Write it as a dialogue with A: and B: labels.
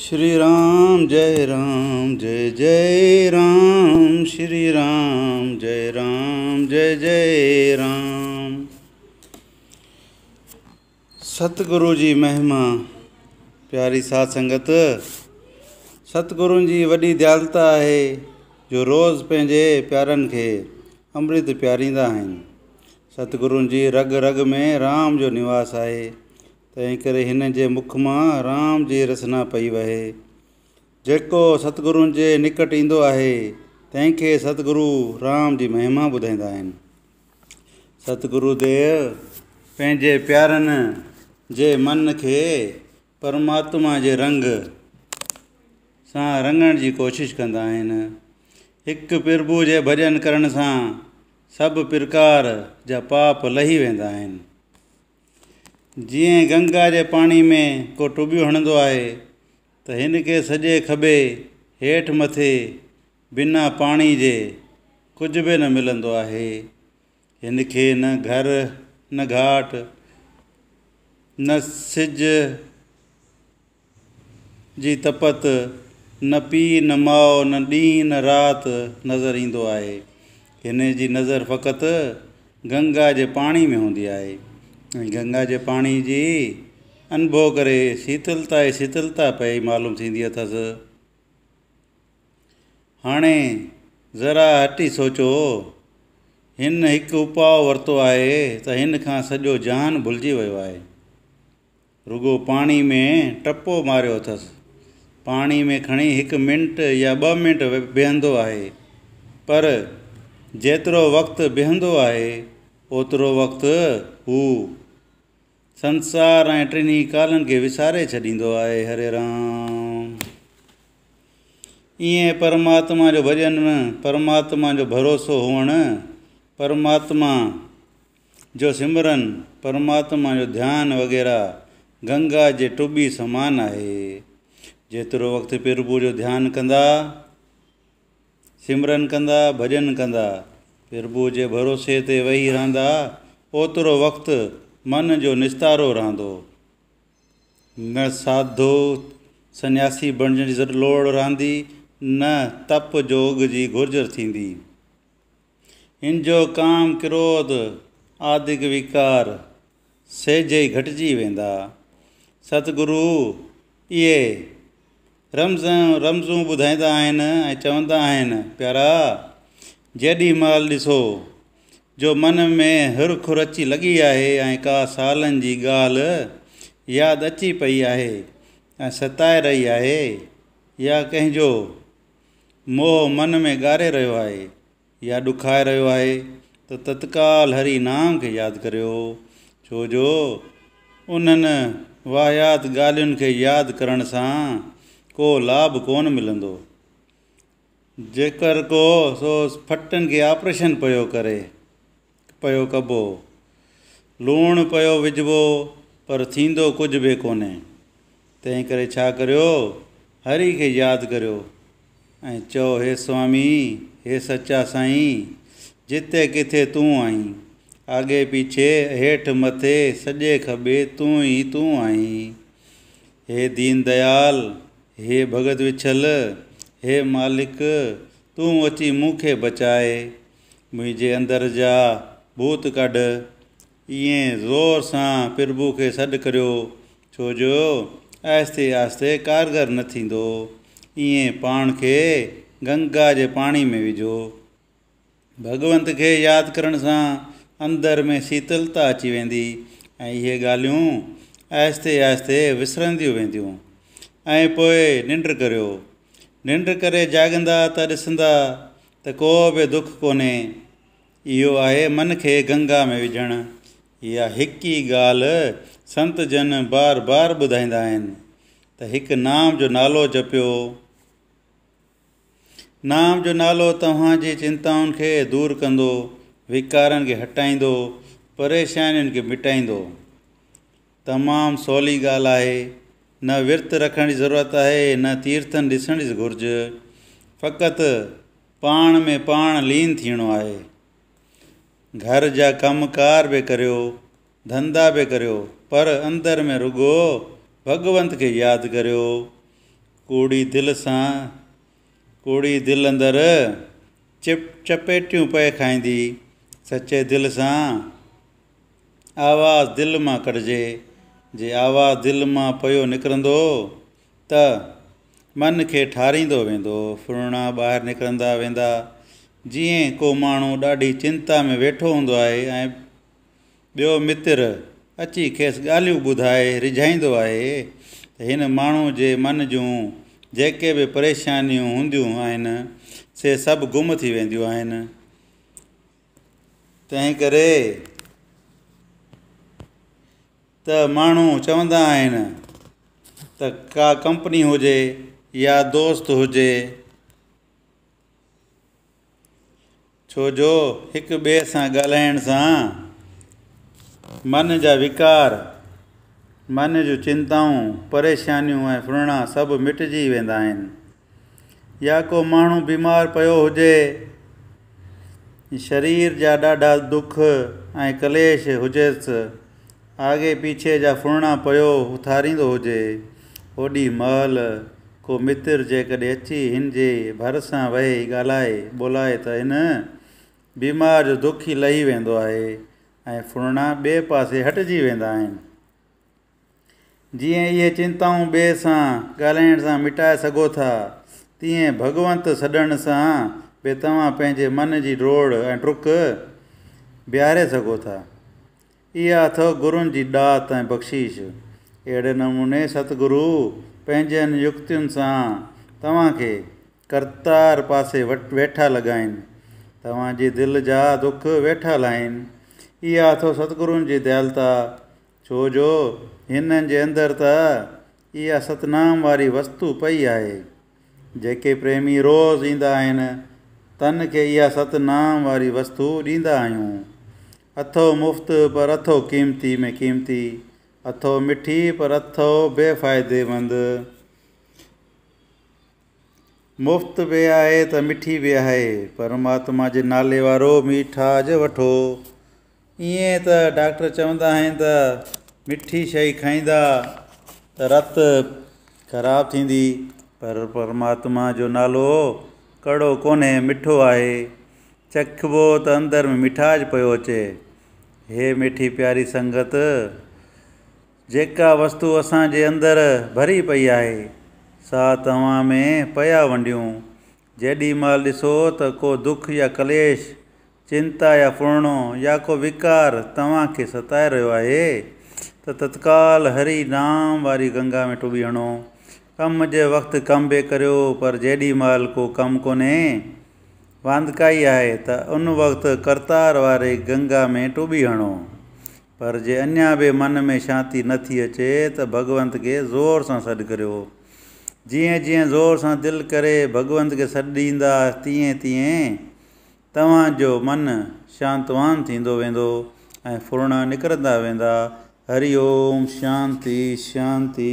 A: شري رام جئي رام جئي جئي رام شري رام جئي رام جئي جئي رام ستگرو جي مهما پياري ساڌ سنگت ستگرون جي وڏي ديالتا آهي جو روز پنهنجي پيارن کي امرت پياريندا آهن ستگرون جي رڳ رڳ ۾ رام جو نواس آهي تنهن ڪري هن جي مک مان رام جي رسنا پئي وهي. جيڪو ستگرون جي نڪٽ ايندو آهي، تنهن کي ستگرو رام جي مهما ٻڌائيندا آهن. ستگرو ديو پنهنجي پيارن جي من کي پرماتما جي رنگ سان رڱڻ جي ڪوشش ڪندا آهن. هڪ پرڀو جي ڀڄن ڪرڻ سان سڀ پرڪار جا پاپ لهي ويندا آهن. جيئن گنگا جي پاڻي ۾ ڪو ٽٻيون هڻندو آهي ته هن کي سڄي کٻي هيٺ مٿي بنا پاڻي جي ڪجهه به نه ملندو آهي هن کي نه گهر نه گهاٽ نه سج جي تپت نه پيء نه ماء نه ڏينهن نه رات نظر ايندو آهي. هن جي نظر فقط گنگا جي پاڻي ۾ هوندي آهي ۽ گنگا جي پاڻي جي انڀو ڪري شيتلتا ئي شيتلتا پئي معلوم ٿيندي اٿس. هاڻي ذرا هٽي سوچو، هن هڪ اپاء ورتو آهي ته هن کان سڄو جهان ڀلجي ويو آهي. رڳو پاڻي ۾ ٽپو ماريو اٿس. پاڻي ۾ کڻي هڪ منٽ يا ٻه منٽ بيهندو آهي. پر جيترو وقت بيهندو آهي اوترو وقت هو سنسار ۽ ٽنهي ڪالن کي وساري ڇڏيندو آهي. هري رام. ايئن پرماتما جو ڀڄن، پرماتما جو ڀروسو هئڻ، پرماتما جو سمرن، پرماتما جو ڌيان وغيره گنگا جي ٽٻي سمان آهي. جيترو وقت پرڀو جو ڌيان ڪندا، سمرن ڪندا، ڀڄن ڪندا، پرڀو جي ڀروسي تي ويهي رهندا، اوترو وقت من جو نستارو رهندو. نه ساڌو سنياسي بڻجڻ جي لوڙ رهندي، نه تپ جوڳ جي گهرج ٿيندي. هن جو ڪام ڪروڌ آدڪ ويڪار سهجي گهٽجي ويندا. ست گرو اهي رمز رمزون ٻڌائيندا آهن ۽ چوندا آهن پيارا جيڏي مهل ڏسو جو من ۾ هرک رچي لڳي آهي ۽ ڪا سالن جي ڳالهه ياد اچي پئي آهي ۽ ستائي رهي آهي يا ڪنهن جو موهه من ۾ ڳاري رهيو آهي يا ڏکائي رهيو آهي ته تتڪال هري نام کي ياد ڪريو ڇو جو انهن واهيات ڳالهين کي ياد ڪرڻ سان ڪو لاڀ ڪونه ملندو. جيڪر ڪو سو ڦٽن کي آپريشن پيو ڪري پيو ڪبو، لوڻ پيو وجهبو پر ٿيندو ڪجهه به ڪونهي. تنهن ڪري ڇا ڪريو، هري کي ياد ڪريو ۽ چئو هي سوامي، هي سچا سائين، جتي ڪٿي تون آهين، آڳي پيڇي، هيٺ مٿي، سڄي کٻي تون ئي تون آهين. هي دين ديال، هي ڀڳت وڇل، هي مالڪ، تون اچي مون کي بچاء. منهنجي اندر جا ڀوت ڪڍ. ائين زور سان پرڀو کي سڏ ڪريو، ڇو جو آهستي آهستي ڪارگر نه ٿيندو. ائين پاڻ کي گنگا جي پاڻي ۾ وجهو. ڀڳونت کي ياد ڪرڻ سان اندر ۾ شيتلتا اچي ويندي ۽ اهي ڳالهيون آهستي آهستي وسرنديون وينديون. ۽ پوء ننڊ ڪريو. ننڊ ڪري جاڳندا ته ڏسندا ته ڪو به دک ڪونهي، اهو آهي من کي گنگا ۾ وجهڻ. اها هڪ ئي ڳالهه سنت جن بار بار ٻڌائيندا آهن ته هڪ نام جو نالو جپيو. نام جو نالو توهان جي چنتائن کي دور ڪندو، وڪارن کي هٽائيندو، پريشانين کي مٽائيندو. تمام سولي ڳالهه آهي. نه ورت رکڻ جي ضرورت آهي نه تيرٿن ڏسڻ جي گهرج. فقط پاڻ ۾ پاڻ لين ٿيڻو آهي. گهر جا ڪم ڪار به ڪريو، ڌنڌا به ڪريو پر اندر ۾ رڳو ڀڳونت کي ياد ڪريو. ڪوڙي دل سان ڪوڙي دل اندر چپ چپيٽيون پئي کائيندي. سچي دل سان. آواز دل مان ڪڍجي، جي آواز دل مان پيو نڪرندو ته من کي ٺاريندو ويندو، ڦرڻا ٻاهر نڪرندا ويندا، جيئن ڪو ماڻهو ڏاڍي چنتا ۾ ويٺو هوندو آهي ۽ ٻيو متر اچي کيس ڳالهيون ٻڌائي ريجهائيندو آهي ته هن ماڻهو جي من جون جيڪي به پريشانيون هونديون آهن سي سڀ گم ٿي وينديون آهن. تنهن ڪري ته ماڻهو چوندا آهن ته ڪا ڪمپني هجي يا دوست هجي ڇو جو هڪ ٻئي سان ڳالهائڻ سان من جا وڪار من جون چنتائون پريشانيون ۽ ڦرڻا سڀ مٽجي ويندا آهن يا ڪو ماڻهو بيمار پيو هجي، شرير جا ڏاڍا دک ۽ ڪليش هجيس، آگي پيڇي جا ڦرڻا پيو اٿاريندو هجي، اوڏي مهل ڪو متر جيڪڏهن اچي هن جي ڀرسان ويهي ڳالهائي ٻولائي ته هن بيمار جو دک ئي لهي ويندو آهي ۽ ڦرڻا ٻئي پاسي هٽجي ويندا آهن. جيئن اهي چنتائون ٻئي سان ڳالهائڻ سان مٽائي سگهو ٿا، تيئن ڀڳونت سڏڻ سان به توهان پنهنجي من جي ڊوڙ ۽ ڊک بيهاري سگهو ٿا. اها اٿئو گرون جي ڏات ۽ بخشيش. اهڙي نموني ستگرو پنهنجين يڪتين سان توهان کي ڪرتار پاسي ويٺا لڳائين. توهان جي دل جا دک ويٺا لاهين. اها اٿئو ستگرون جي ديالتا. ڇو جو هن جي اندر ته اها ستنام واري وستو پئي آهي. جيڪي پريمي روز ايندا آهن، تن کي اها ستنام واري وستو ڏيندا آهيون. اٿئو مفت پر اٿئو قيمتي ۾ قيمتي، اٿئو مٺي پر اٿئو بي فائدي مند. مفت به آهي ته مٺي به آهي. پرماتما جي نالي وارو ميٺاج وٺو. ائين ته ڊاڪٽر چوندا آهن ته مٺي شئي کائيندا ته رت خراب ٿيندي پر پرماتما جو نالو ڪڙو ڪونهي مٺو آهي. چکبو ته اندر ۾ ميٺاج پيو اچي. هي ميٺي پياري سنگت! جيڪا وستو اسان جي اندر ڀري پئي آهي، سا توهان ۾ پيا ونڊيون. جيڏي مهل ڏسو ته ڪو دک يا ڪليش، چنتا يا ڦرڻو يا ڪو وڪار توهان کي ستائي رهيو آهي ته تتڪال هري نام واري گنگا ۾ ٽٻي هڻو. ڪم جي وقت ڪم به ڪريو پر جيڏي مهل ڪو ڪم ڪونهي، واندڪائي آهي ته ان وقت ڪرتار واري گنگا ۾ ٽٻي هڻو. پر جي اڃا به من ۾ شانتي نه ٿي اچي ته ڀڳونت کي زور سان سڏ ڪريو. جيئن جيئن زور سان دل ڪري ڀڳونت کي سڏ ڏيندا تيئن تيئن توهان جو من شانتوان ٿيندو ويندو ۽ ڦرڻا نڪرندا ويندا. هري اوم شانتي شانتي.